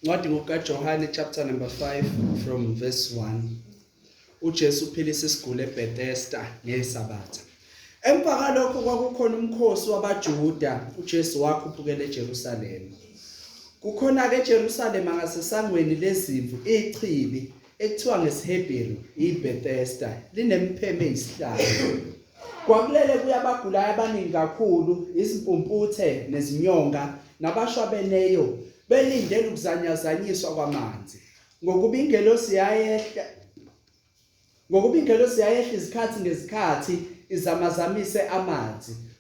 Ncwadi ngokaJohane chapter number 5 from verse 1. UJesu uphilisa isiguli eBethesda ngesabatha. Emva kalokho kwakukhona umkhosi wabaJuda, uJesu wakhuphukela eJerusalema. Kukhona-ke eJerusalema ngasesangweni lezimvu ichibi ekuthiwa ngesiHebheru iBethesda linempheme eyisihlanu. Kwakulele kuya abagulayo abaningi kakhulu, izimpumputhe nezinyonga nabashwabeneyo belindele ukuzanyazanyiswa kwamanzi. Ngokuba ingelosi yayehla ngokuba ingelosi yayehla izikhathi ngezikhathi izamazamise amanzi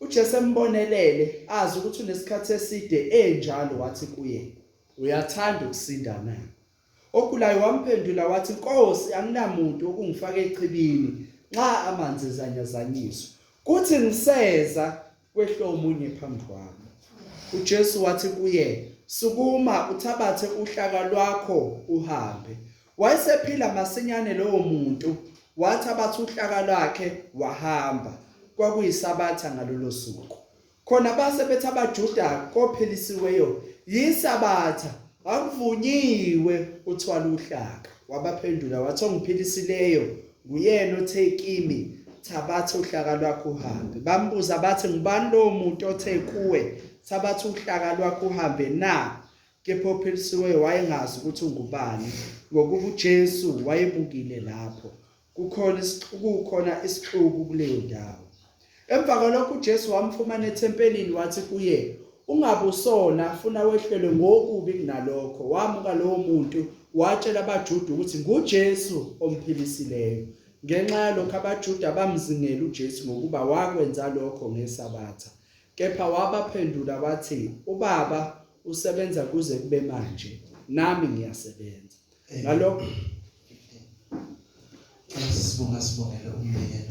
UJesu embonelele, azi ukuthi unesikhathi eside enjalo, wathi kuye, Uyathanda ukusinda na? Ogulayo wamphendula wathi, Nkosi, anginamuntu ukungifaka echibini nxa amanzi ezanyazanyiswa. Kuthi ngiseza kwehle omunye phambi kwami. UJesu wathi kuye, Sukuma, uthabathe uhlaka lwakho uhambe. Wayesephila masinyane lowo muntu, wathi abathi uhlaka lwakhe wahamba. Kwakuyisabatha ngalolo suku. Khona base bethi abaJuda kophelisiweyo yisabatha akuvunyiwe uthwala uhlaka. Wabaphendula wathi ongiphilisileyo nguyena othe kimi thabatha uhlaka lwakho uhambe. Bambuza bathi ngubani lowo muntu othe kuwe thabatha uhlaka lwakho uhambe na? Kepha ophilisiweyo wayengazi ukuthi ungubani, ngokuba uJesu wayebukile lapho. Kukhona kukhona isixuku kuleyo ndawo. Emva kwalokho uJesu wamfumana ethempelini wathi kuye, ungabusona funa wehlelwe ngokubi kunalokho. Wamuka lowo muntu watshela abaJuda ukuthi nguJesu omphilisileyo. Ngenxa yalokho abaJuda bamzingela uJesu ngokuba wakwenza lokho ngesabatha. Kepha wabaphendula wathi, uBaba usebenza kuze kube manje nami ngiyasebenza eh. ngalokho sibonga sibongele umyeni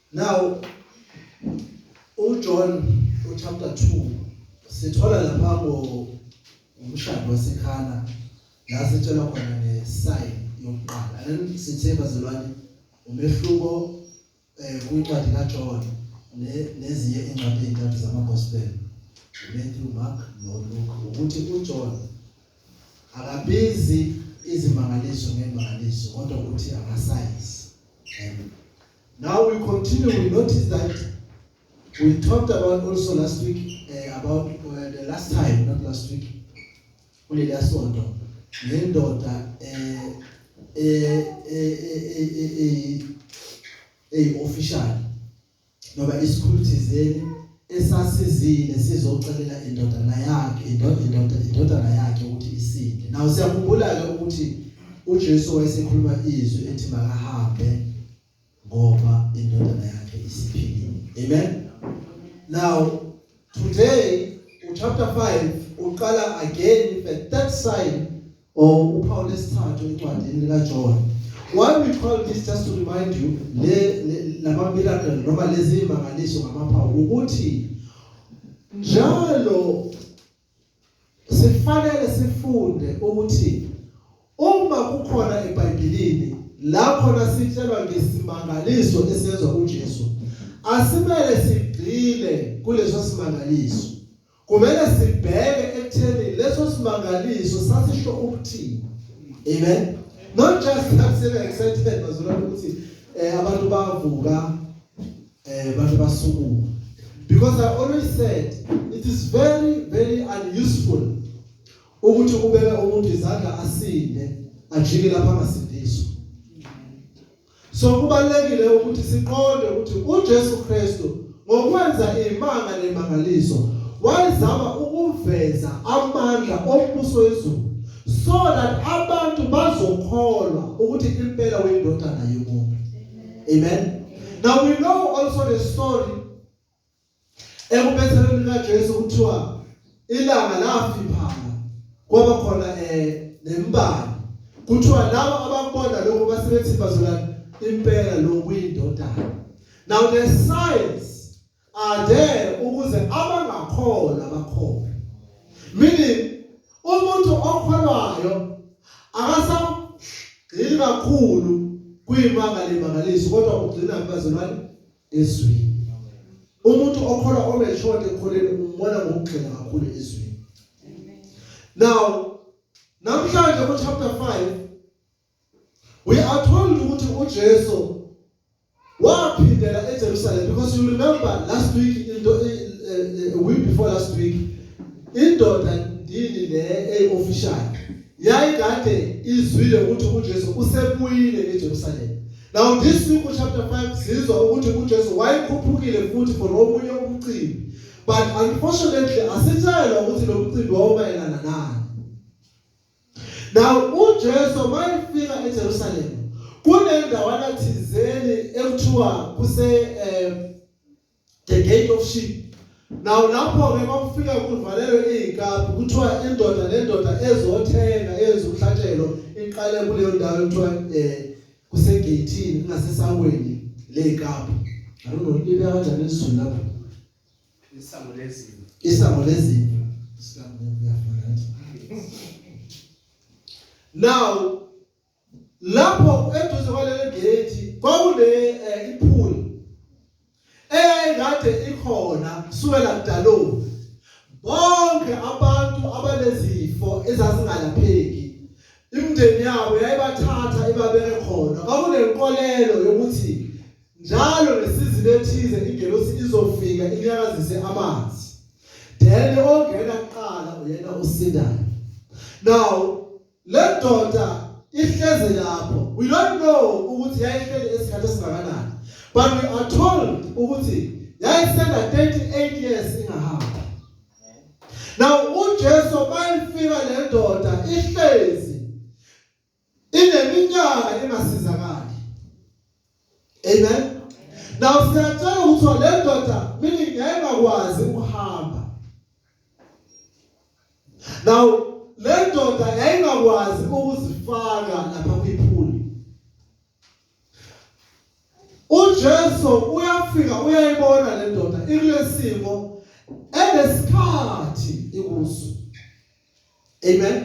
Now uJohn uchapter 2 sithola lapha ngo umshado wasekhana la sitshela khona ngesign yokuqala and sithe bazalwane umehluko eh kwincwadi kaJohn nezinye incwadi ezintathu zamagospel Matthew Mark noLuke ukuthi uJohn akabizi izimangaliso ngemangaliso kodwa ukuthi amasayisi Now we continue, we notice that we talked about also last week uh, about uh, the last time, not last week, kuleliya sonto ngendoda eh eh eh eh official noba isikhulu thizeni esasizile sizocelela indodana yakhe indodana indodana yakhe ukuthi isinde nawo siyakhumbula ke ukuthi uJesu wayesekhuluma izwi ethi makahambe ngoba indodana yakhe isiphilile amen now today chapter 5 uqala again the third sign or uphawu lesithathu encwadini likaJohn why we call this just to remind you le lama miracle noma lezi imangaliso ngamaphawu ukuthi njalo sifanele sifunde ukuthi uma kukhona eBhayibhelini lapho nasitshelwa ngesimangaliso esenzwa uJesu asimele sigcile kuleso simangaliso Kumele sibheke ekutheni leso simangaliso sasisho ukuthini. Amen. Not just that sebe excited bazula ukuthi eh abantu bavuka eh abantu basukume. Because I always said it is very very unuseful ukuthi ubeke umuntu izandla asinde ajike lapha angasindiswa. So kubalekile ukuthi siqonde ukuthi uJesu Kristu ngokwenza imanga nemangaliso wayezama ukuveza amandla ombuso wezulu so that abantu bazokholwa ukuthi impela uyindodana yomuntu. Amen. Now we know also the story Ekubethelweni kaJesu kuthiwa ilanga lafiphala kwaba khona eh nembali. Kuthiwa labo ababona lokho basebethi bazola impela lokuyindodana. Now the signs are there ukuze abangakholwa bakholwe. Meaning umuntu okholwayo akasagxili kakhulu kuyimanga lemangaliso kodwa ugcina kubazalwane ezweni umuntu okholwa omejote ekholeni umbona ngokugxila kakhulu ezweni now namhlanje ku chapter 5 we are told ukuthi uJesu waphindela eJerusalem because you remember last week into eh, eh, a week before last week indoda ndini le eofficial yayikade izwile ukuthi uJesu usebuyile eJerusalem Now this week chapter 5 sizwa ukuthi uJesu wayekhuphukile futhi for omunye umcimbi. But unfortunately asitshayelwa ukuthi lo mcimbi wawumayelana nani. Now uJesu mayefika eJerusalem kunendawana thizeni ekuthiwa kuse um the gate of sheep Now lapho ke makufika kuvalelwe izikabi kuthiwa indoda lendoda ezothenga yenza umhlatshelo iqale kuleyo ndawo kuthiwa eh kusegeyithini kungasesaweni lezikabi. I don't know into kanjani izulu lapho. Isango lezimo. Isango lezimo. Isango lezimo. Now lapho eduze kwaleli gate kwakune eh, ipool eyayikade ikhona kusukela kudaloni bonke abantu abanezifo ezazingalapheki imndeni yabo yayibathatha ibabeke khona kwakunenkolelo yokuthi njalo ngesizini ethize ingelosi izofika inyakazise amanzi then ongena kuqala uyena osindayo now Lendoda ihlezi lapho. We don't know ukuthi yayihleli esikhathi esingakanani. But we are told ukuthi yayisena 38 years ingahamba. Now uJesu bayifika lendoda ihlezi ineminyaka engasizakali. Amen. Now siyatshela ukuthi le ndoda mina ngiyengakwazi ukuhamba. Now le ndoda yayingakwazi ukuzifaka lapha kwiphuli. uJesu uyafika uyayibona le ndoda ikulesimo enesikhathi ikuso amen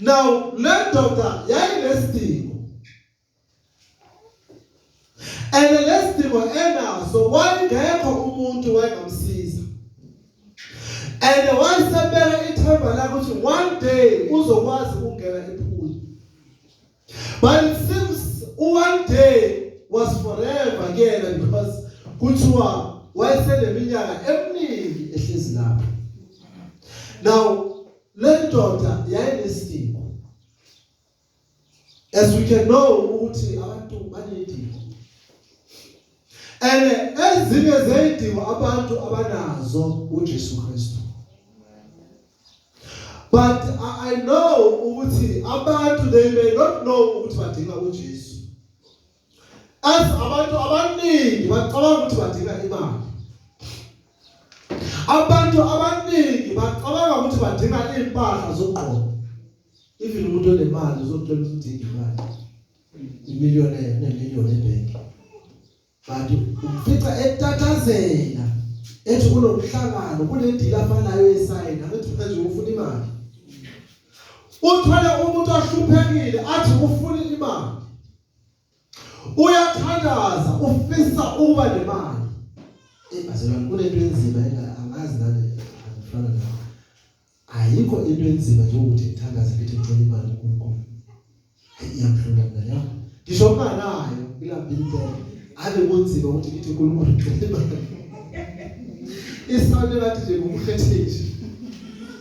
now le ndoda yayinesidingo and lesidingo enaso wayengekho umuntu wayengamsiza and wayesebeka ithemba lakhe ukuthi one day uzokwazi ukungena ephuli but it seems one day was forever kuyena because kuthiwa wayeseneminyaka eminingi ehlezi lapho now le ndoda yayinesidingo As we can know ukuthi abantu banedingo. And ezinye zeyidingo abantu abanazo uJesu Kristu. But I, I know ukuthi abantu they may not know ukuthi badinga uJesu. As abantu abaningi bacabanga ukuthi badinga imali. Abantu abaningi bacabanga ukuthi badinga impahla zokugqoka. Even umuntu onemali uzothola ukuthi udinga imali. Imillion nemillion ebhenki. Kanti umfica etatazela ethi kunomhlangano kunedila afanayo esayina ukuthi manje ufuna imali. Uthole umuntu ahluphekile athi ufuna imali. uyathandaza ufisa ukuba nemali ebazelwa kunento enzima angazi nani angifana nayo ayikho into enzima njengokuthi ngithandaze ngithi ngicela imali kuNkulunkulu iyamhlula mina ya ngisho unganayo ngilapha impela ave kunzima ukuthi ngithi uNkulunkulu ngicela imali isawule lathi nje ngumkhethethi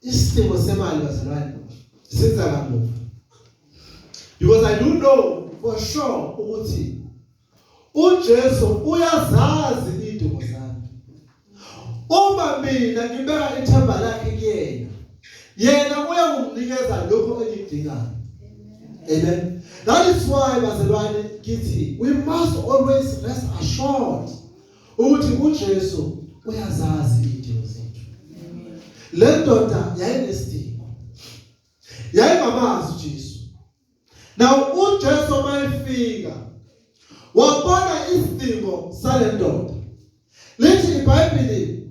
Isidingo semali bazalwane siza kamuva. Because I do know for sure ukuthi uJesu uyazazi idingo zami. Uma mina ngibeka ithemba lakhe kuyena, yena uyakunginikeza lokho engikudingayo. Amen. That is why bazalwane kithi we must always rest assured ukuthi uJesu uyazazi idingo zethu le ndoda yayinesidingo yayingamazi uJesu now uJesu mayefika wabona isidingo sale ndoda lithi iBhayibheli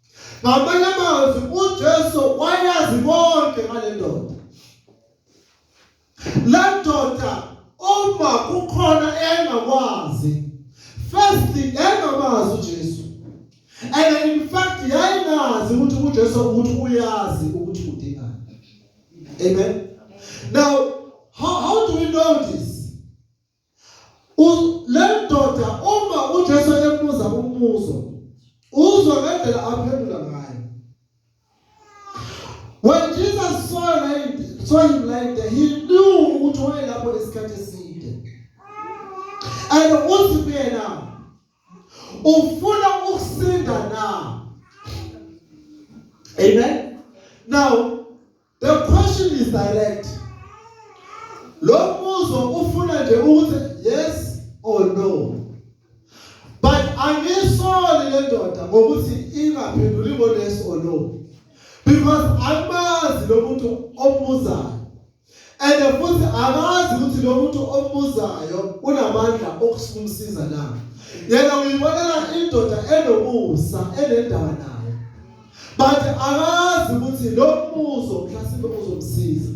ngamanye amazwi uJesu wayazi konke ngale ndoda le ndoda uma kukhona engakwazi first engamazi uJesu and in fact yayingazi ukuthi uJesu ukuthi uyazi ukuthi udingani amen now how, how do we know this le ndoda uma uJesu ebuza umbuzo uzwa ngendlela aphendula ngayo when Jesus saw him saw him lying there he knew ukuthi wayelapho isikhathi eside and uthi kuyena ufuna ukusinda na amen now The question is direct. Lo mbuzo ufuna nje ukuthi yes or no. But angisoli le ndoda ngokuthi ingaphenduli ngo yes or no. Because amazi lo muntu ombuzayo. And futhi akazi ukuthi lo muntu ombuzayo unamandla okusikumsiza na. Yena uyibonela indoda enomusa enendaba nayo. but akazi ukuthi lo mbuzo mhlasimbe uzomsiza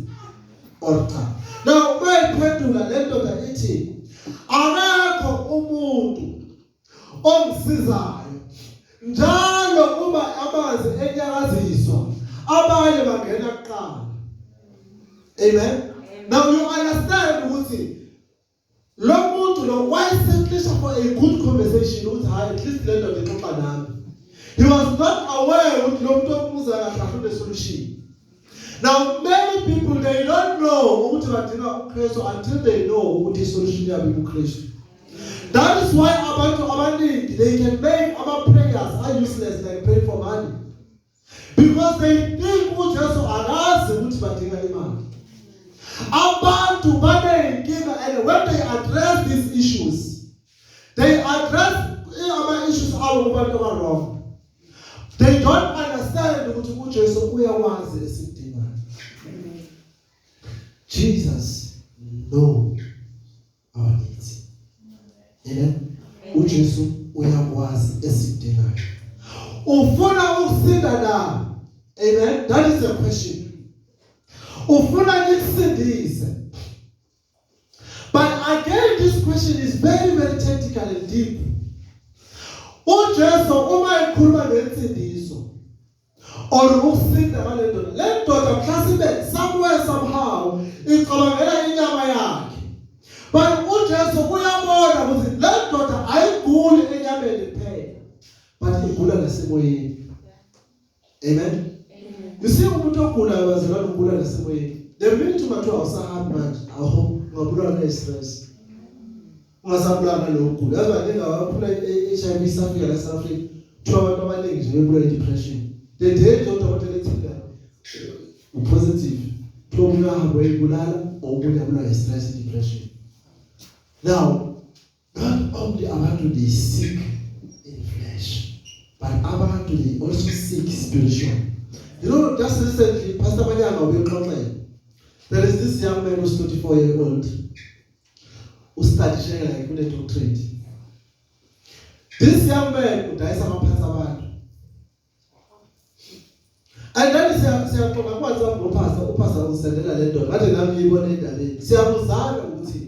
or cha now bayiphendula le ndoda ithi akekho umuntu ongisizayo njalo uma amanzi enyakaziswa abanye bangena kuqala amen now you understand ukuthi lo muntu lo wayesecisha for a good conversation ukuthi hayi at least le ndoda ixoxa nami he was not aware ukuthi lo muntu omuza kahle afune solution now many people they don't know ukuthi badinga uKristu until they know ukuthi solution yabo uKristu that is why abantu abaningi they can make ama prayers are useless like pray for money because they think uJesu akazi ukuthi badinga imali abantu baneyinkinga and when they address these issues they address ama-issues abo kubantu abarong they don't understand ukuthi ujesu uyawazi esidingayo jesus no abaninzi amen uJesu uyakwazi esidingayo ufuna ukusinda na amen that is the question ufuna nikusindise but again this question is very very technical and deep uJesu uma ekhuluma ngensindiso or ukusinda ngale ndoda le ndoda mhlawumbe somewhere somehow icabangela inyama yakhe but uJesu uyabona ukuthi le ndoda ayiguli enyameni kuphela but igula nasemoyeni amen you see umuntu ogulayo wazela ukugula nasemoyeni the minute ungathi awusahambi manje aho ungabulawa ne-stress ungasabulawa nalowo gula yazi baningi abaphula i-HIV isafika la South Africa kuthiwa abantu abaningi nje bebula i-depression the day nje udokotela ethile upositive kuthiwa umuntu ahambe uyibulala or umuntu abulawa yi-stress depression now not only abantu they sick in flesh but abantu they also sick spiritual you know just recently pastor manyanga ubexoxela there is this young man who's 24 year old ustudy shekela ngifune doctorate this young man udayisa amaphansi abantu and then siyaxoxa kwanza ngophasa uphasa usendela le ndoda ngathi nami ngiyibona endabeni siyabuzana ukuthi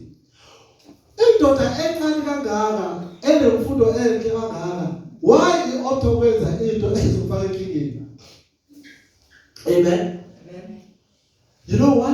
indoda encane kangaka enemfundo enhle kangaka why ioptha ukwenza into ezofaka enkingeni amen you know why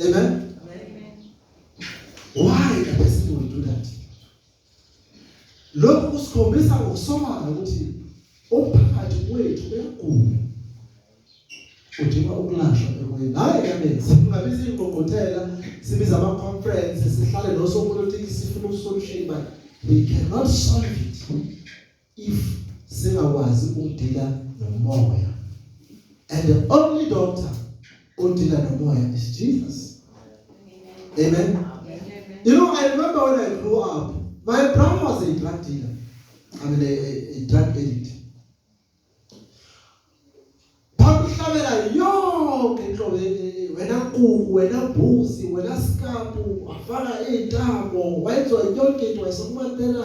Amen. Amen. Why can this people do that? Lokhu kusikhombisa ngokusobala ukuthi umphakathi wethu uyagula. Udinga ukulashwa emoyeni. Hayi kaningi singabiza ingqungquthela, sibiza ama conference, sihlale nosopolitiki sifuna ukusolution but we cannot solve it. if singakwazi ukudila nomoya and the only doctor odila nomoya is Jesus amen you know i remember when i grew up my brother was a drug dealer i mean a, a, a drug addict bakuhlabela yonke inhlobo wena kuku wena bhusi wena skapu wafaka iintambo wayenziwa yonke into wayesokumatela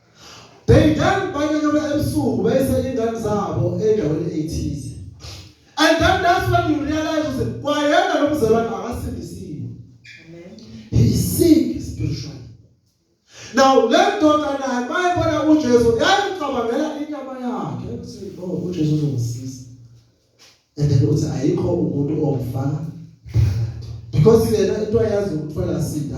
They then banyanyuka ebusuku bese ingane zabo endaweni ethize. And then that's when you realize ukuthi kwayena lo mzalwane akasindisiwe. He is sick spiritually. Now le ndoda naye mayebona uJesu yayicabangela inyama yakhe ukuthi no oh, uJesu uzongisiza. And then uthi ayikho umuntu omfana phakathi. Because yena into ayazi ukuthola sinda.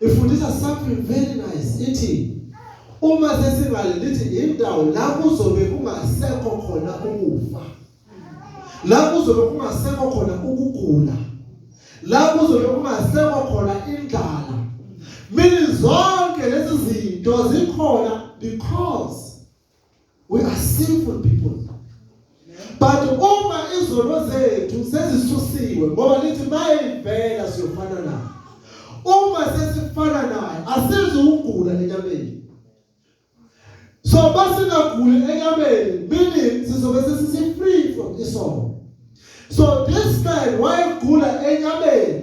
ifundisa something very nice ithi uma sesingale lithi indawo la kuzobe kungasekho khona ukufa la kuzobe kungasekho khona ukugula la kuzobe kungasekho khona indlala mina zonke lezi zinto zikhona because We are sinful people. But uma izono zethu sezisusiwe ngoba lithi mayivela siyofana nayo. Uma sesifana naye asizi ukugula enyameni. So basingaguli enyameni meaning sizobe sesisi free from isono. So this man wayegula enyameni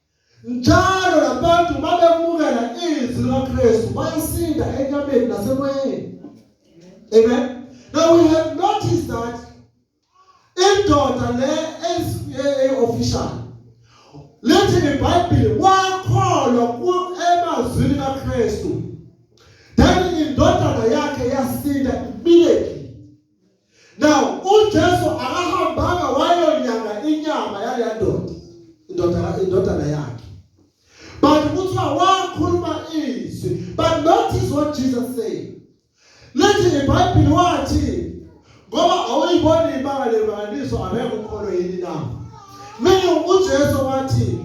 Njalo labantu babemukela izwi likaKristu bayasinda enyameni nasemoyeni. Amen. Now we have noticed that indoda le eyi official lithi iBhayibheli wakholwa ku emazwini kaKristu. Then indodana yakhe yasinda immediately. Now uJesu akahambanga wayonyanga inyama yaleya ndoda indoda indodana yakhe. But kuthiwa wakhuluma izwi. But notice what Jesus said. Lithi iBhayibheli wathi ngoba awuyiboni imanga lemangaliso abekho ukholo yini na? Mina uJesu wathi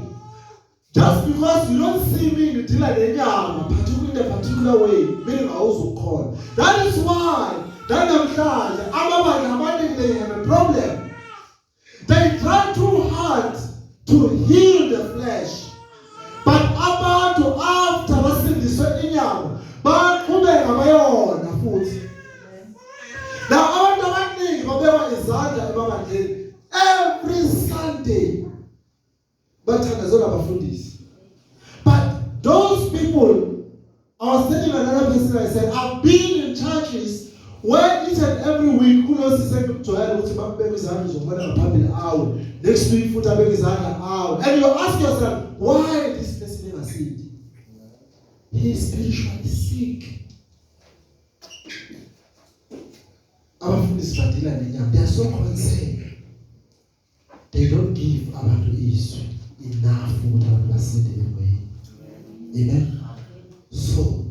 Just because you don't see me ngidila nenyama particular in a particular way mina ngawuzukhona. That is why nanamhlanje amabandla amaningi they have a problem. They try too hard to heal the flesh. But abantu after basindiswe inyama baqhubeka bayona futhi. Now abantu abaningi babekwa izandla ebabandleni every Sunday bathandazelwa abafundisi but those people I was telling another person I said I've been in churches where each and every week kunosisi engimjwayele ukuthi bakubeka izandla uzobona ngaphambili awe next week futhi abeke izandla awe and you ask yourself why this person engasindi he is spiritually sick abafundisi badila nenyama they are so concerned they don't give abantu izwi enough ukuthi abantu basinde emoyeni amen so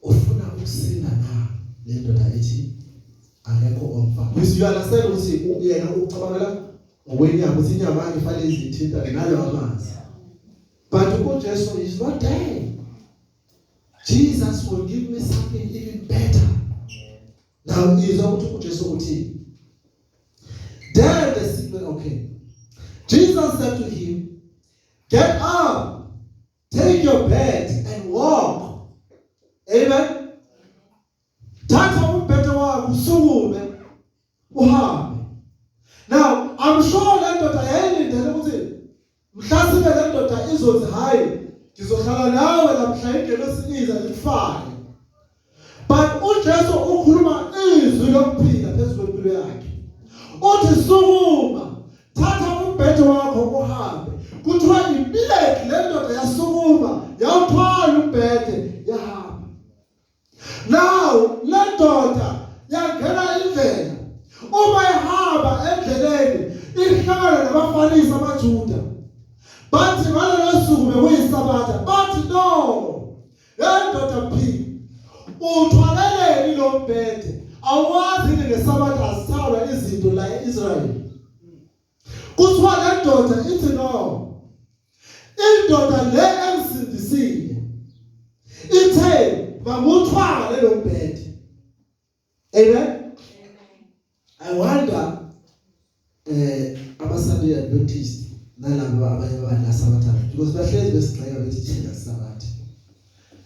ufuna ukusinda na le ndoda ethi akekho omfa this you understand ukuthi uyena ucabangela ngokwenyama ukuthi inyama yakhe ifanele izithinta ngalawa amanzi but uJesu is not dead Jesus will give me something even better now izwa ukuthi uJesu uthini Then the sick man, okay. Jesus said to him, Get up, take your bed, and walk. Amen. Thatha umbhedo wakho usukume uhambe. Now, I'm sure le ndoda yayilindele ukuthi Mhlasimbe le ndoda izothi hhayi ngizohlala nawe lamhla ingelosi iza ikufake but ujesu ukhuluma izwi lokuphila phezu kwempilo yakhe uthi sukuma thatha umbhede wakho uhambe kuthiwa ibileki le ndoda yasukuma yawuthwala umbhede Now lendoda yangena indlela uma ihamba endleleni ihlangana nabaFarisi amaJuda bathi ngalelo suku bekuyisabatha bathi no yendoda phila uthwaleleni lo mbhede awazi ngesabatha azithalwa izinto la e-Israyeli Kuthiwa le ndoda ithi no. Indoda le emsindisile ithe mamuthwala lelo mbhede. Amen. I wonder eh abaSunday Adventist nalabo abanye abadla sabathathu because bahlezi besigxeka bethi thina sabathathu.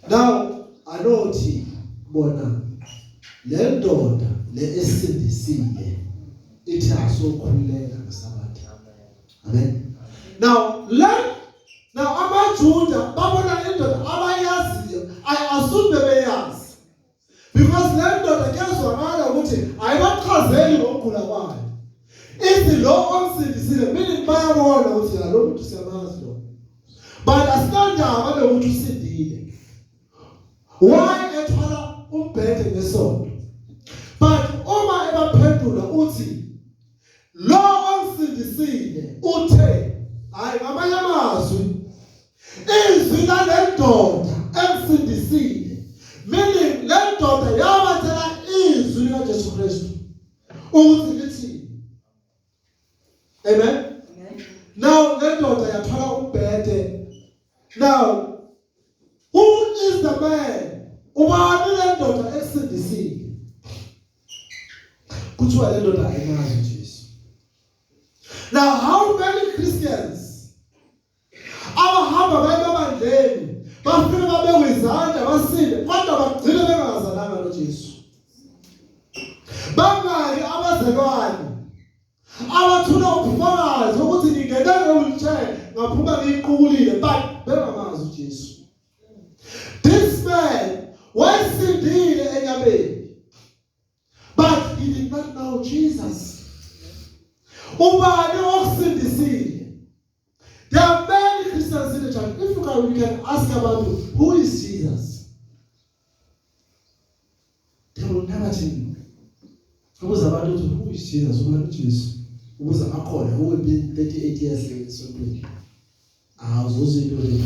now anothi bona le ndoda le esindisile ithi asokhuleka ngesabatha amen now learn now amajuda babona indoda abayaziyo ayasuke beyazi because le ndoda kuyazwakala ukuthi ayibaxhazeli ngokugula kwayo ithi lo omsindisile mina bayabona ukuthi la lo muntu siyamazi lo but asinandaba nokuthi usindile why ethwala umbhede ngesonto but uma ebaphendula uthi lo omsindisile uthe hayi ngamanye amazwi Izwi lalendoda emsindisile meaning lendoda yabathela izwi likaJesu Kristu ukuthi lithi Amen. Now lendoda yathola umbhede. Now who is the man? Ubani lendoda emsindisile? Kuthiwa lendoda ayinazi nje. Now, how many Christians Abahamba baye babandleni bafike babekwe izandla basinde kodwa bagcine bengazalanga noJesu. Bangaki abazalwane abathula ubufakazi ukuthi ngingena ngewheelchair ngaphuma ngiyiqukulile but bengamazi uJesu. This man wayesindile enyameni but he did not know Jesus. Ubani okusindisile? There are many Christians in the church. If you can, we can ask about who is Jesus. They will never tell you. Ukuze abantu ukuthi who is Jesus? Ubani uJesu? Ukuze akhona uwe 38 years esontweni. Awuzuza into leyo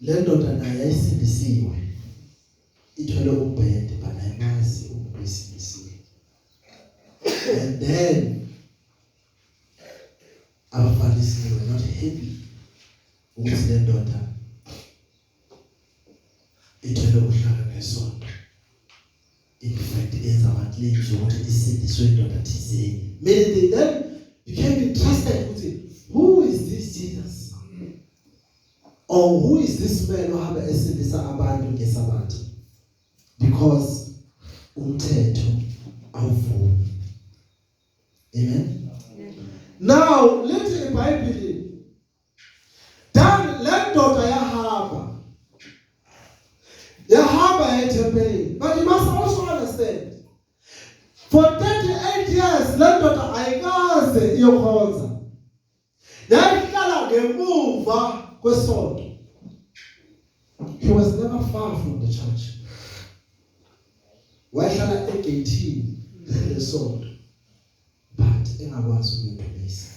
Le ndoda nayo yayisindisiwe. Ithwele umbhede but ayimazi umuntu oyisindisiwe. And then abaFarisi they were not happy ukuthi le ndoda ithwele uhlaka ngesonto. in fact yenza ama claims ukuthi isindiswe indoda thizeni meaning that you can be trusted ukuthi who is this Jesus or who is this man ohamba esindisa abantu ngesabatha because umthetho awuvumi amen now lethe ibhayibheli Dan le ndoda yahamba yahamba ethempelini but you must also understand for 38 years le ndoda ayikaze iyokhonza yayihlala ngemuva kwesonto he was never far from the church wayehlala egeyithini lesonto but engakwazi ukuyidumisa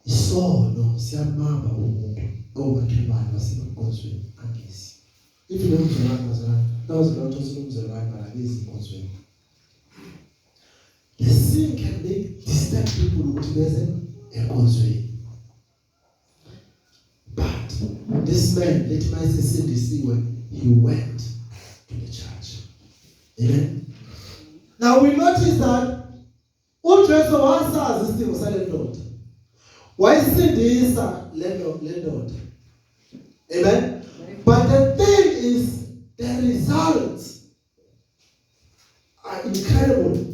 isono siyamama umuntu komakhelwane wasebukhosweni angezi ithi lo mzalwane mzalwane nawuzela ukuthi usilomzalwane malakizi inkonzweni the sin can make disturb people ukuthi beze enkonzweni but this man lethi mayesesindisiwe he went to the church amen now we notice that UJesu wasazi isimo salendoda. Wayisindisa lento lendoda. Amen. But the thing is the results are incredible.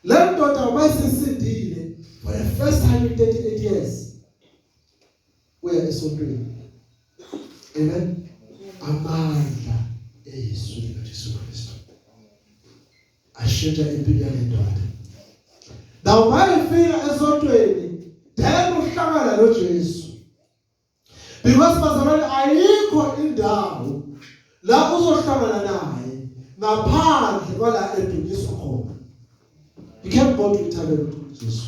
Lendoda wayisindile for the first time in 38 years. Uya esontweni. Amen. Amandla eYesu likaJesu Kristu. ashintsha impilo yale ndoda nawo mayefika esontweni then uhlangana noJesu because bazalwane ayikho indawo la uzohlangana naye ngaphandle kwala edunyiswa khona you can't go to Italian Jesu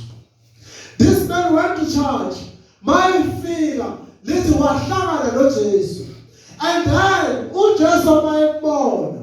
this man went to church mayefika lithi wahlangana noJesu and then uJesu mayebona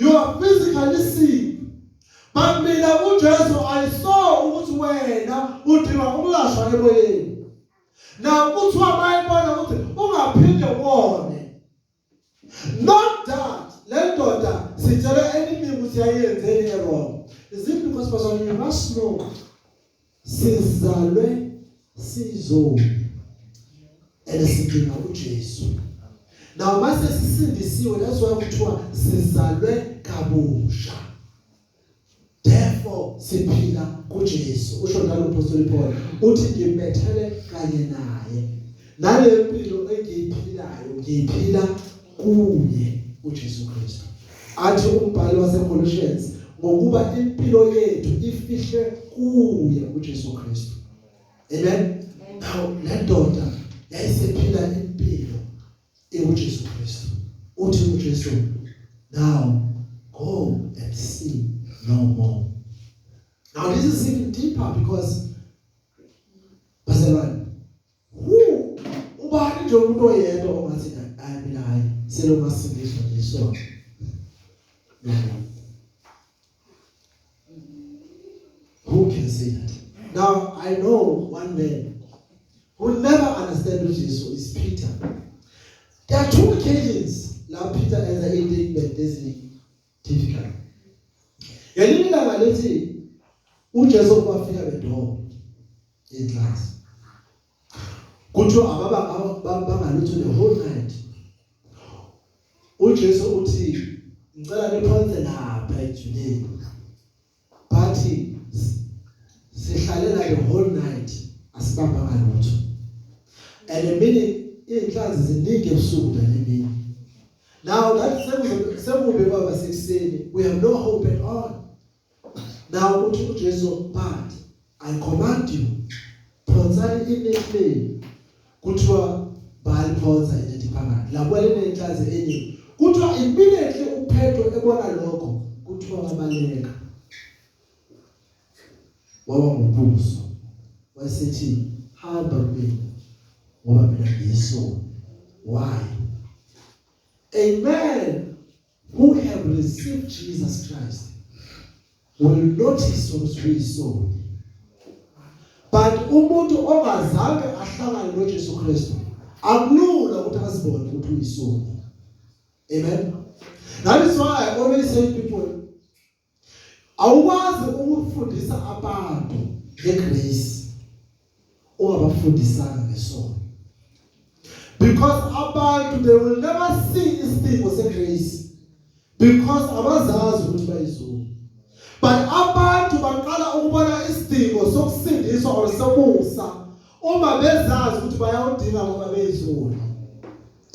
You are physically sick. But mina uJesu I saw ukuthi wena udinga ukulashwa emoyeni. Now kuthiwa bayibona ukuthi ungaphinde wone. Not that le ndoda sitshela eningi ukuthi yayenzeni errong. Is it because bazalwane you must know sizalwe sizoni and sidinga uJesu now mase sisindisiwe that's why kuthiwa sizalwe kabusha therefore siphila kuJesu usho njalo uphostoli Paul uthi ngimbethele kanye naye nalempilo engiyiphilayo ngiyiphila kuye uJesu Kristu athi umbhali waseColossians ngokuba impilo yethu ifihle kuye uJesu Kristu amen now le ndoda yayisephila impilo ekuJesu Kristu uthi uJesu now go and see no more now this is even deeper because bazalwane ubani nje umuntu oyedwa ongathi hayi mina hayi selo masindiswa nje so who can say that now i know one man who never understand uJesu is Peter there are two occasions la Peter enza into eziningi Difficult. Ngelinye ilanga lithi uJesu kwafika bedonga inhlasi. Kuthiwa ababa bangalutho the whole night. UJesu uthi ngicela niphonse lapha ejuleni. bathi sihlale la the whole night asibambanga lutho and a minute inhlanzi ziningi ebusuku nalini now that sekube baba sekuseni we have no hope at all now uthi uJesu phansi I command you phonsani inethi lenu kuthiwa bayiphonsa inethi phakathi lapho elinenhlazi enye kuthiwa impinethe uPetro ebona lokho kuthiwa wabaleka waba ngumbuso wayesethi hamba mina ngoba mina ngiyisona why amen who have received Jesus Christ will notice ukuthi uyisoni but umuntu ongazange ahlangane noJesu Kristu akulula ukuthi azibone ukuthi uyisoni amen that is why i always say people Awukwazi ukufundisa abantu ngegrace ungabafundisanga ngesono. Because abantu they will never see isidingo segrace because abazazi ukuthi bayizulu. But abantu baqala ukubona isidingo sokusindiswa or sokusa uma bezazi ukuthi bayawudinga ngoba beyizulu.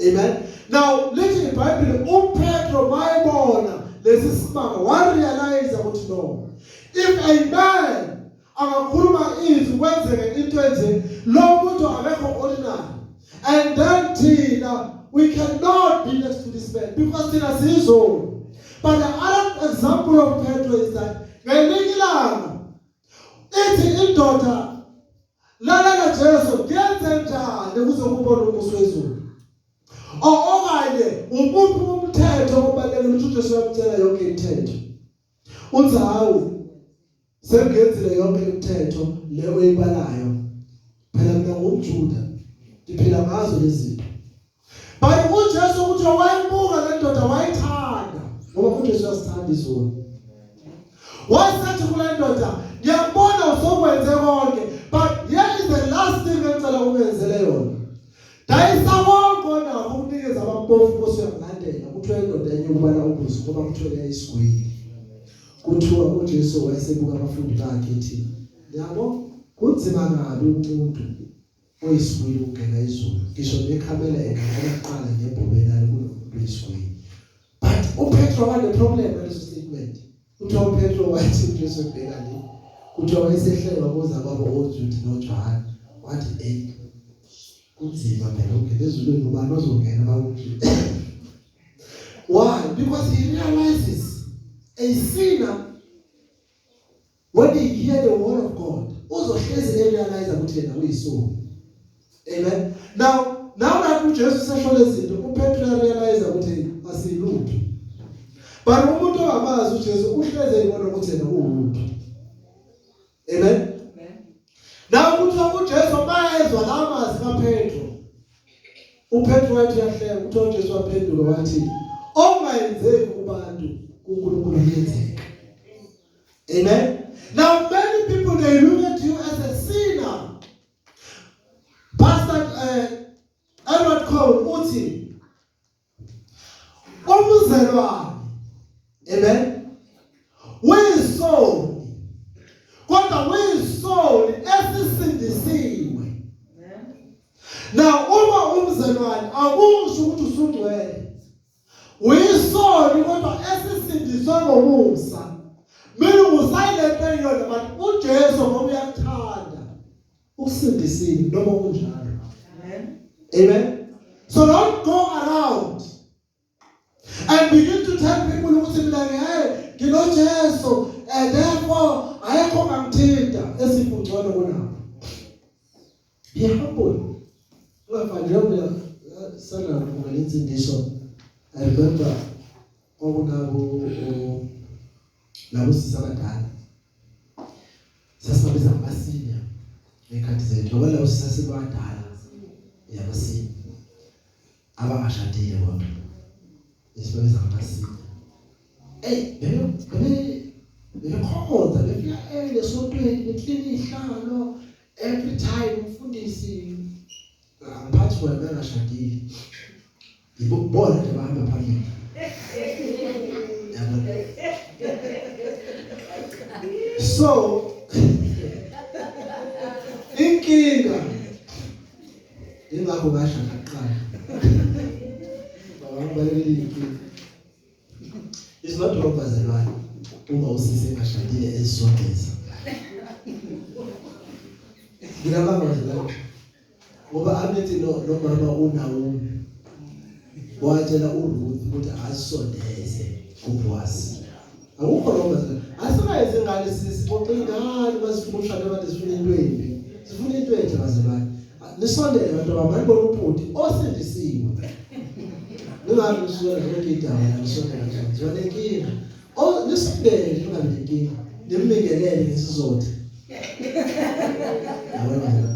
Amen. Now lithi iBhayibheli uPetro mayibona lesi simanga warealize ukuthi no. If a man angakhuluma izwi kwenzeke into enje lo muntu akekho ordinary. And then thina we cannot be next to this man because thina sizolo. But the other example of Petro is that ngelinye ilanga ithi indoda Lalela Jesu, ngenzenjani ukuze ngibone umusa wezulu? Okanye umuphi umthetho obalekile ukuthi uJesu uyamtshela yonke imithetho? Uthi hawu sengenzile yonke imithetho le oyibalayo. Phela mina ngumJuda. Ngiphila ngazo lezi zinto. But uJesu ukuthi wayibuka le ndoda wayithanda ngoba uJesu uyasithanda izulu. Wasethi kule ndoda ngiyabona usokwenze konke but here is the last thing engicela ungenzele yona. Dayisa konke onakho ukunikeza abampofu Nkosi uyakulandela kuthiwa indoda enye ukubala ubuso ngoba kuthiwa yayisigwili. Kuthiwa uJesu wayesebuka abafundi bakhe ethi yabo kunzima kabi umuntu Oyisibili ukugxeka izulu. Ngisho nekhamela egxeka kuqala ngebhobe lalo kunomuntu oyisibili. But uPetro wale problem leso statement. Uthiwa uPetro wathi uJesu ebheka le. Kuthiwa wayesehlelwa kuza kwabo oJuda noJohane. Wathi hey kunzima phela ukungena ezulwini ngoba nozongena bawuJuda. Why? Because he realizes a sinner When they hear the word of God, uzohlezi realize ukuthi yena uyisoni. Amen. Now, now that uJesu sesho lezinto, uPetru realize ukuthi asilutho. But umuntu ongamazi uJesu uhleze ibona ukuthi yena uwumuntu. Amen. Now kuthiwa uJesu mayezwa la mazwi kaPetru. UPetru wathi yahleka kuthiwa uJesu waphendula wathi, "Ongayenzeki kubantu uNkulunkulu uyenzeka." Amen. Now many people they look at you as a sinner. Pastor uh, Edward Cole uthi umzelwane amen uyisoni kodwa uyisoni esisindisiwe now uma umzelwane akusho ukuthi usungcwele uyisoni kodwa esisindiswe ngomusa mina ngusayilento eyona but uJesu ngoba uyakuthanda ukusindisile noma kunjalo amen amen so don't go around and begin to tell people ukuthi mina ngiyaye nginoJesu and therefore ayekho ngangithinta esifungcono kunabo Be humble. Ungafani njengoba eh, sana kuphuma lensindiso. I remember kwakunabo labo sisi abadala. Sasibabiza ngamasinya ngekhathi zethu ngoba labo sisi abadala yabasinya. abangashadile kodwa esibabiza ngamasiko hey bebe bebe bekhonza befika ele sontweni beklini ihlalo every time umfundisi angiphathi wena bengashadile yibo bona ke bahamba phambili so inkinga Ingakho ngasho ngaqala. Baba ngibalekile inkinga. It's not wrong bazalwane uma usise ngashadile ezisondeza. Ngiyabanga bazalwane. Ngoba abethi no nomama uNaomi watshela uRuth ukuthi asondeze kuBoaz. Awukho lo manje. Asikayenze ingane sisi boxe ingane basifuna ushada abantu sifuna into embi. Sifuna into enhle bazalwane. Nisondele abantu abamani bona ubhuti osindisiwe. Ningabe nisuka zonke indawo la nisondele nje. Zona inkinga. Oh nisondele nje ungabe inkinga. Nimbingelele ngesizotha. Yabona.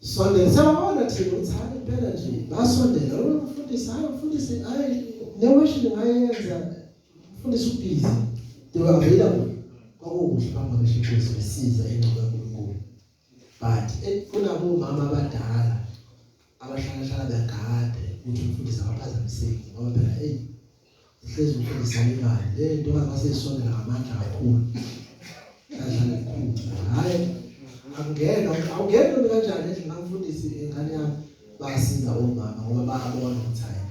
Sondela siyabona thina ukuthi hayi impela nje basondela lo mfundisi hayi mfundisi hayi ne worship ngayenza mfundisi ubhizi they were available kwakukuhle bamamisha inkosi besiza ingcebo kaNkulunkulu but eh, kunabo mama abadala abahlala hlala begade ukuthi umfundisi akaphazamiseki ngoba phela hey Uhlezi ufundisa imali. Le nto angase isondela ngamandla kakhulu. Kanjani kukhulu. Hayi angena awungena noma kanjani endlini ngangifundisi ingane yami basiza omama ngoba bayabona ukuthi hayi.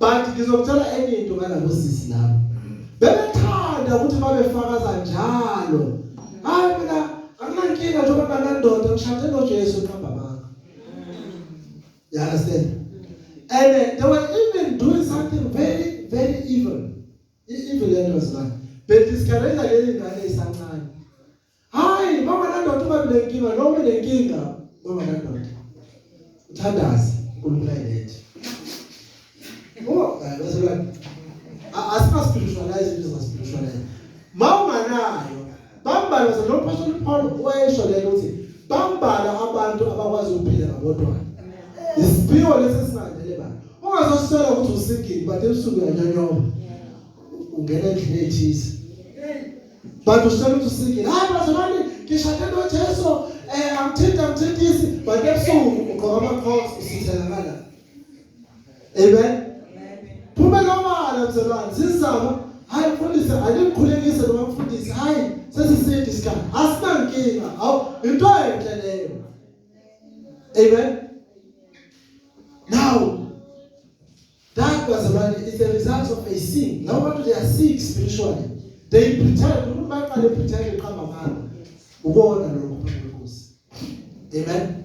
But ngizokuthola enye into ngalabo sisi labo. Bebethanda ukuthi babefakaza njalo. Hayi mina anginankinga njengoba nganandoda ngishade noJesu nqamba You understand? And uh, they were even doing something very, very evil. Evil lento zibani. Bediscouragea leli ngane isancane. Hayi, mama nandoda uma benenkinga, noma benenkinga, mama nandoda. Uthandaze, uNkulunkulu ayilethe. Oh, that's right. Asina spiritualize into za spiritualize. Mawunganayo, bambala zalo apostle Paul wayesho lento ukuthi bambala abantu abakwazi ukuphila ngabodwa. Isiphiwo lesi singadele ba. Ungazoswela ukuthi usikini, but ebusuku uyanyonyoba. Ungena endlini ethisi. But uswela ukuthi usikini. Hayi bazalwane, ngishade noJesu. Eh, I'm tempted, I'm tempted. But ebusuku ugqoka ama-crocs usithelakala. Amen. Phumela obala mzalwane sizama hayi mfundisi alimkhulekise noma mfundisi hayi sesiside isikhathi asinankinga awu into enhle leyo. Amen. Now that was about it's the result of a sin. Now what they are sick spiritually. They pretend umuntu bayaqale pretend iqamba mali. Ubona lokho. Amen.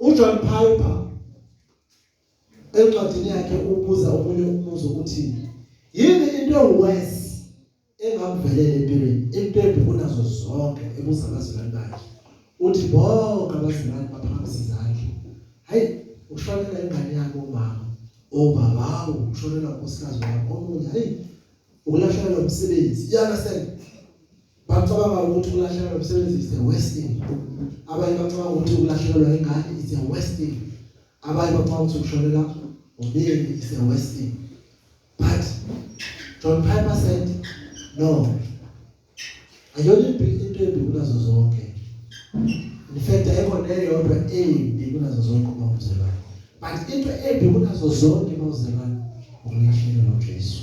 uJohn Piper encwadini yakhe ubuza omunye umbuzo ukuthi yini into ewes engakuvelela empilweni into embi kunazo zonke ebuza abazalwane bakhe uthi bonke abazalwane baphakamisa izandla hayi ushonela ingane yakho umama obaba ushonela unkosikazi wakho omunye hayi ukulahlekelwa umsebenzi yana sena Bacabanga ukuthi ukulahlekelwa umsebenzi is a worst thing. Abanye bacabanga ukuthi ukulahlekelwa ingane is a worst thing. Abanye bacabanga ukuthi ukushonela umyeni is a worst thing. But John Piper said no. Ayona into embi kunazo zonke. In fact ayikho neyodwa embi kunazo zonke uma uzalwa. But into embi kunazo zonke uma uzalwa ukulahlekelwa uJesu.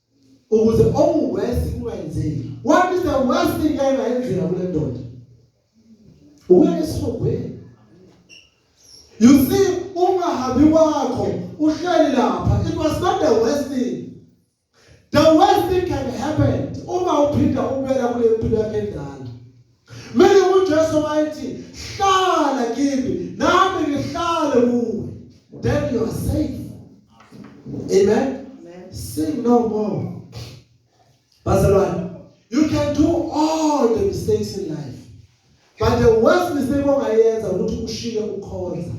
ukuze okuwesi kungayenzeki what is the worst thing engayenzeka kule ndoda uya esihogweni you see ungahambi kwakho uhleli lapha it was not the worst thing the worst thing can happen uma uphinda ubuyela kule mpilo yakhe endala Mele uJesu wayethi hlala kimi nami ngihlale kuwe. Then you are safe. Amen. Amen. Sing no more. Bazalwane, you can do all the mistakes in life. But the worst mistake ongayenza ukuthi ushiye ukhonza.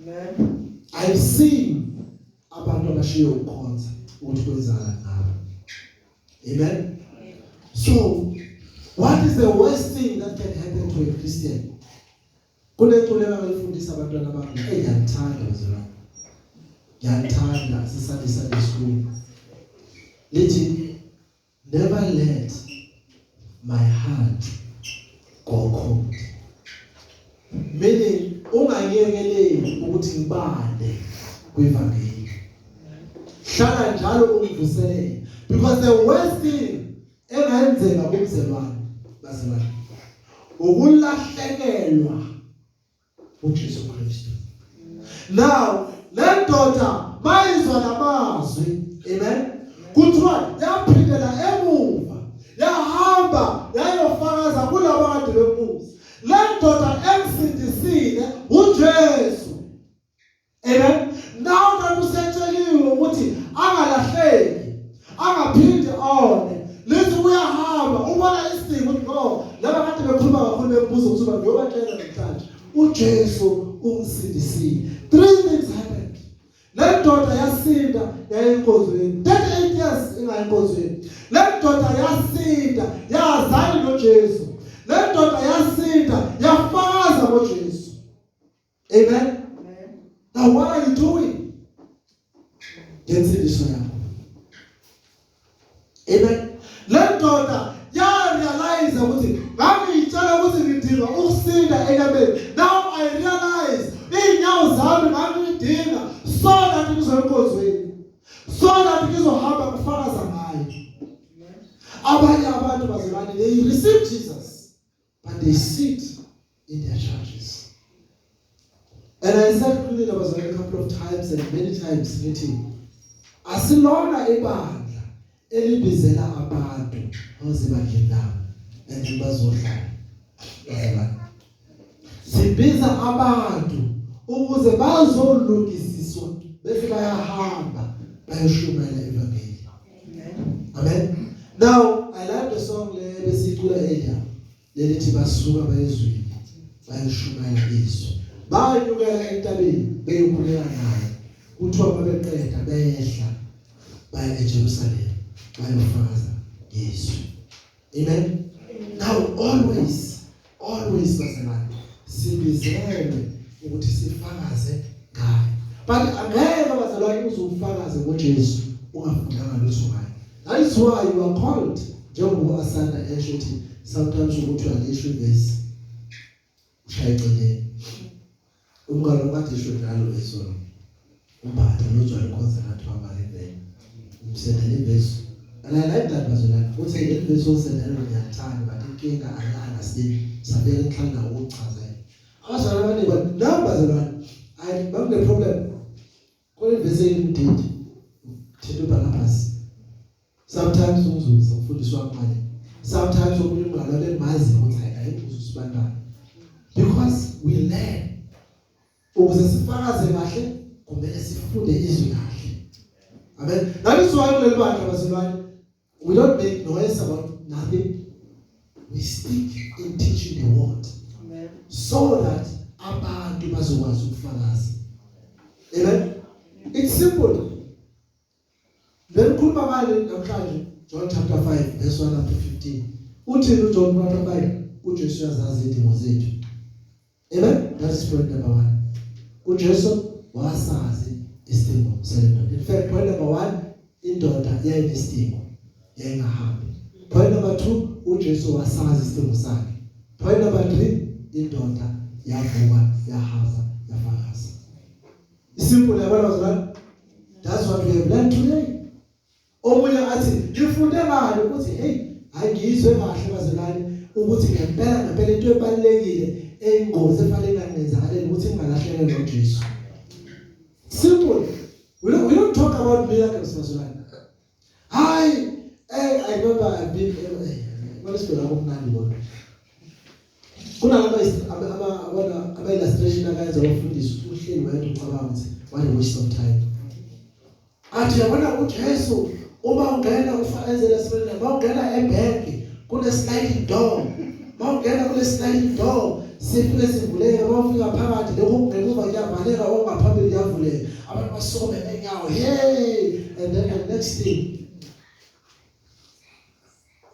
Amen. I've seen abantu abashiye ukhonza ukuthi kwenzakala Amen. So, what is the worst thing that can happen to a Christian? Kuneculo abalifundisa abantwana bami, hey ngiyalithanda uzwa. Ngiyalithanda sisandisa lesikulu. Lithi never let my heart gogo meaning ungayekeleli ukuthi ngibale kwevangeli hlala njalo ungivuselele because the worst thing engayenzeka kumzelwane bazalwane ukulahlekelwa uJesu Kristu now le ndoda bayizwa lamazwi amen kuthiwa yaphindela emuva yahamba yayofakaza kulabo kade bembuza le ndoda emsindisile uJesu Amen. Nawo kanti usetsheliwe ukuthi angalahleki, angaphindi one. Lithi uyahamba, ubona isidingo ukuthi no, laba kade bekhuluma kakhulu bembuza ukuthi uba ngiyobatshela namhlanje. UJesu ungisindisile. Three things happened. Le ndoda yasinda yayinkonzweni. 38 years ingayinkonzweni. Le ndoda yasinda yazana noJesu. Le ndoda yasinda yafakaza ngoJesu. Amen. Now what are you doing? Ngensindiso yakho. Amen. Le ndoda ya realize ukuthi ngangiyitshela ukuthi ngidinga ukusinda enyameni. Now I realize iy'nyawo zami ngangiyidinga so that ngizoya enkonzweni. So that ngizohamba ngifakaza ngayo. Abanye abantu bazalwane they receive Jesus. but they sit in their churches. And I said to them, I was like a couple of times and many times meeting. Asilona ibandla elibizela abantu ngoze bandleni labo and bazohlala. Yebo. Sibiza abantu ukuze bazolungisiswa bese bayahamba bayoshumayela Amen. Now I like the song le besicula earlier lelithi basuka bayizwile bayishumayela izwi. Bayukela entabeni beyokhuleka naye. Kuthiwa babeqeda behla baya eJerusalem bayofakaza ngezwi. Amen. Now always always bazalwane sibizelwe ukuthi sifakaze ngaye. But angeke bazalwane uzufakaze ngoJesu ungafundanga lutho ngaye. That is why you are called njengoba asanda esho ukuthi sometimes ukuthi alisho ivesi ushaye eceleni umkalo kade isho njalo lesona umphatha nojwayele ukhonza ngathi wamale vele umsendele imbezu alala indaba bazolala uthi le mbezu osendele ngiyathanda but inkinga alala sini sabeka enhlanga ukuchaza abazalwane bathi namba zalwane ayi bakune problem Kule vesi eyimdidi thetha uBarnabas. Sometimes umzuzu ufundiswa ngqale. Sometimes umuntu ngalo lemazi ukuthi ayimbuzo sibantwana. Because we learn ukuze sifakaze kahle kumele sifunde izwi kahle. Amen. That is why kuleli bandla bazilwane We don't make noise about nothing. We speak in teaching the word. Amen. So that abantu bazokwazi ukufakaza. Amen. It's simple. Then khuluma ngale namhlanje John chapter 5 verse 1 up to 15. Uthini uJohn chapter 5? UJesu uyazazi izidingo zethu. Amen. That is point number 1. UJesu wasazi isidingo sendoda. In fact, point number 1 indoda yayinesidingo yayingahambi. Point number 2 uJesu wasazi isidingo sakhe. Point number 3 indoda yavuka yahamba yafakaza. Simple yabona bazalwane. That's what we have learned today. omunye athi ngifunde ngani ukuthi hey angizwe kahle bazalwane ukuthi ngempela ngempela into ebalekile eyingozi efanele ingangenzakaleli ukuthi ngingalahleke ngoJesu simple we don't, we don't talk about miracles bazalwane hayi eh i remember i been eh, kwalesibona kumnandi kodwa kunalaba abana abayilastration akayenza abafundisi uhleli wayedwa ucabanga ukuthi why waste of time athi yabona uJesu uma ungena ufanele sibele uma ungena ebank kune sliding door uma ungena kule sliding door sifike sivuleke uma ufika phakathi lokho kungemuva kuyavaleka okungaphambili kuyavuleka abantu basome enyawo hey and then the next thing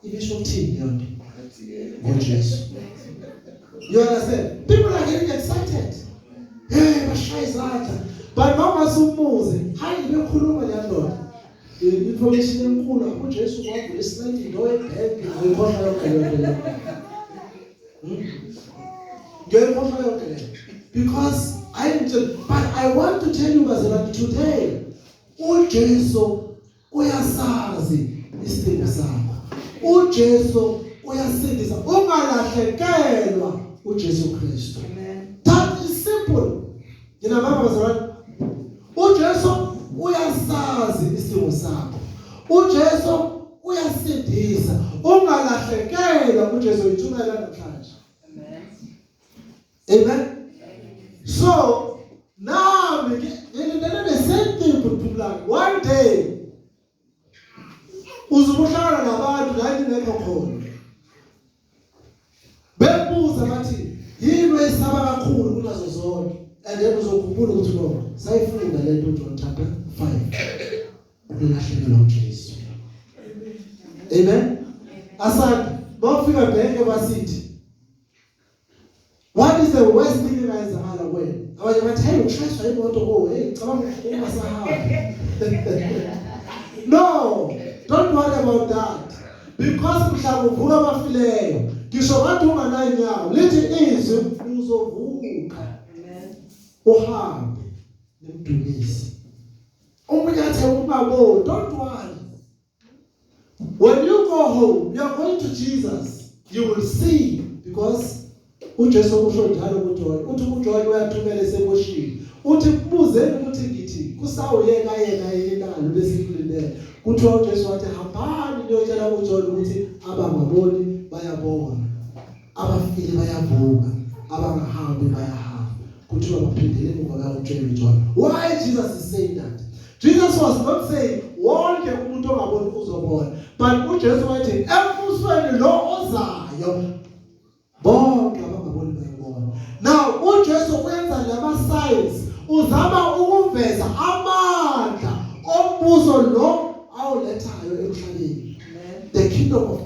ibisho ukuthini yonke ngoJesu you understand people are getting excited hey bashaya izandla but mama sumuze hayi bekhuluma le ndoda information enkulu apho Jesu kwavula isilandi into ebheke ngikhohlwa yonke le nto hmm? ngiyayikhohlwa yonke le because i but i want to tell you bazalwane today uJesu uyasazi isidingo sakho uJesu uyasindisa ungalahlekelwa uJesu Kristu that is simple ngina mama bazalwane uJesu uyasazi isidingo sakho uJesu uyasindisa ungalahlekelwa uJesu yithumela namhlanje Amen. So now we get the same thing with people like one day uzukuhlala nabantu la ingekho khona bebuza bathi yini oyisaba kakhulu kunazo zonke and then uzokhumbula ukuthi no sayifunda le nto John chapter 5 ukulahlekelwa uJesu amen asanda bafika bheke basithi What is the worst thing you guys have ever done? I was like, hey, you try to go to go. Hey, come on, come on, No, don't worry about that. Because mhla kuvuka abafileyo, ngisho wathi unganayo inyawo, lithi izwi uzovuka. Amen. Uhambe nemdumisi. Omunye athe ubabo, don't worry. When you go home, you are going to Jesus. You will see because uJesu usho njalo kuJohn. Uthi uJohn uyathumela esebushini. Uthi kubuzeni ukuthi ngithi kusawuyeka yena yini na lo besikulindele. Kuthiwa uJesu wathi hambani niyotshela uJohn ukuthi abangaboni bayabona. abafile bayavuka abangahambi bayahamba kuthiwa baphindele emuva bayawutshela uJohn why Jesus is saying that Jesus was not saying wonke umuntu ongaboni uzobona but uJesu wathi embusweni lo ozayo bonke abangaboni bayabona now uJesu wenza lama signs uzama ukuveza amandla ombuso lo awulethayo emhlabeni the kingdom of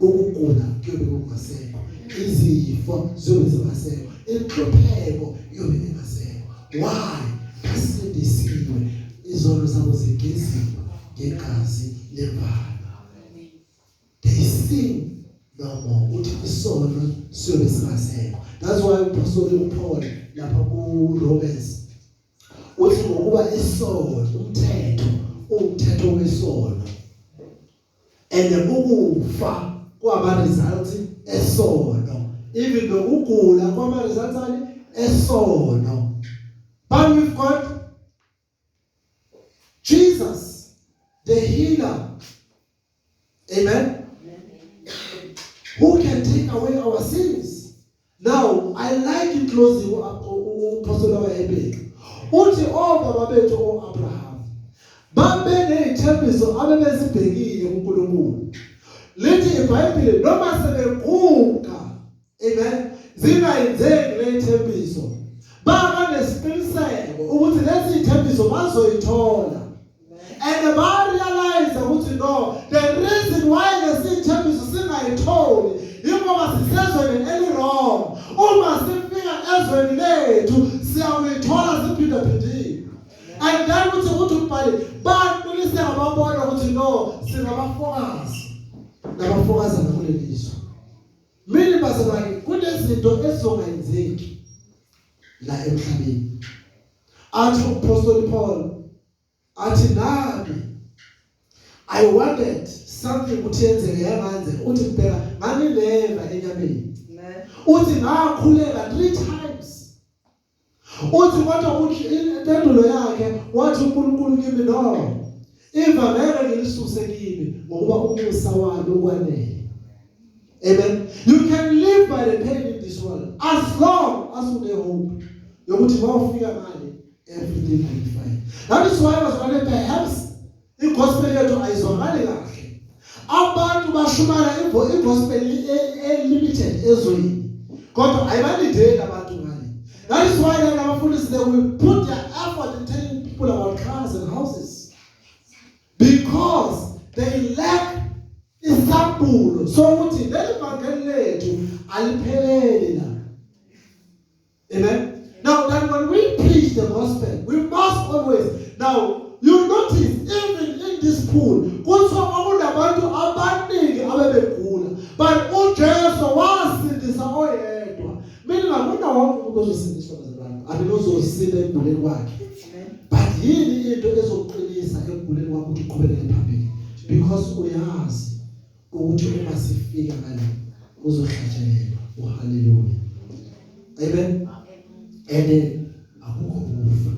ukugula kuyobe kungasekho izifo ziyobe zingasekho inhlupheko iyobe ingasekho why asindisiwe izono zabo zigeziwe ngegazi lembala they sing no more uthi isono siyobe singasekho that's why uphostoli uPaul lapha ku Romans uthi ngokuba isono umthetho umthetho wesono and ukufa kwaba result esono even nokugula kwaba result ani esono but we've got Jesus the healer amen who can take away our sins Now I like in closing uphostolo kaHebheru. Uthi obaba oh, bethu oAbraham babenezithembiso abebezibhekile kuNkulunkulu. Lithi iBhayibheli noma sebeguga amen zingayenzeki lezithembiso baba nesiqiniseko ukuthi lezi zithembiso bazoyithola and barealize ukuthi no the reason why lesithembiso singayitholi yingoba sisezweni eliwrong uma sifika ezweni lethu siyawuyithola siphindaphindile and then uthi ukuthi umbhali baqiniseka babona ukuthi no singabafokazi nabafokazana kuleli zwe mina bazalwane kunezinto ezizongayenzeki la emhlabeni athi umpostoli Paul athi nami I wanted something ukuthi yenzeke yamanze uthi ngibheka nganileva enyameni uthi ngakhuleka 3 times uthi kodwa ukuthi impendulo yakhe wathi uNkulunkulu kimi no ivangelo ngilisuse kimi ngokuba umusa walo kwanele Amen. You can live by the pain in this world as long as you have hope. Yokuthi wawufika ngale everything will be fine. That is why bazalwane perhaps igospel yethu ayizwakali kahle. Abantu bashumana igospel e, e limited ezweni. Kodwa ayibalideli abantu ngale. That is why lana abafundisi they will put their effort in telling people about cars and houses because they lack Isambulo sokuthi leli vangeli lethu alipheleli la. Amen. Now that when we preach the gospel, we must always now you notice even in this pool kuthiwa kwakunabantu abaningi abebegula but uJesu wasindisa oyedwa. Mina ngakuna wonke umuntu ozosindiswa bazalwane. Abe uzosile empilweni kwakhe. but yini into ezokuqinisa ekuguleni kwakho ukuthi uqhubekele phambili because uyazi ukuthi uma sifika ngale uzohlatshelelwa uhaleluya amen and akukho kufa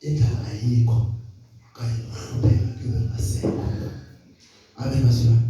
indaba ayikho kanye nokuhlupheka kuyoba ngasekho amen masibani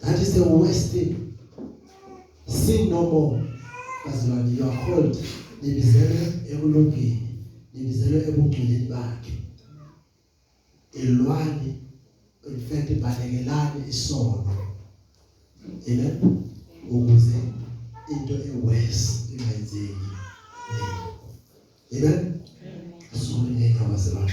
That is the worst thing. Sin no more. Bazalwane, you are called. Nibizelwe ekulungeni. Nibizelwe ebungcweleni bakhe. Elwani in fact balekelani isono. Amen. Ukuze into eworse ingayenzeki. Amen. Sonke ngeke abazalwane.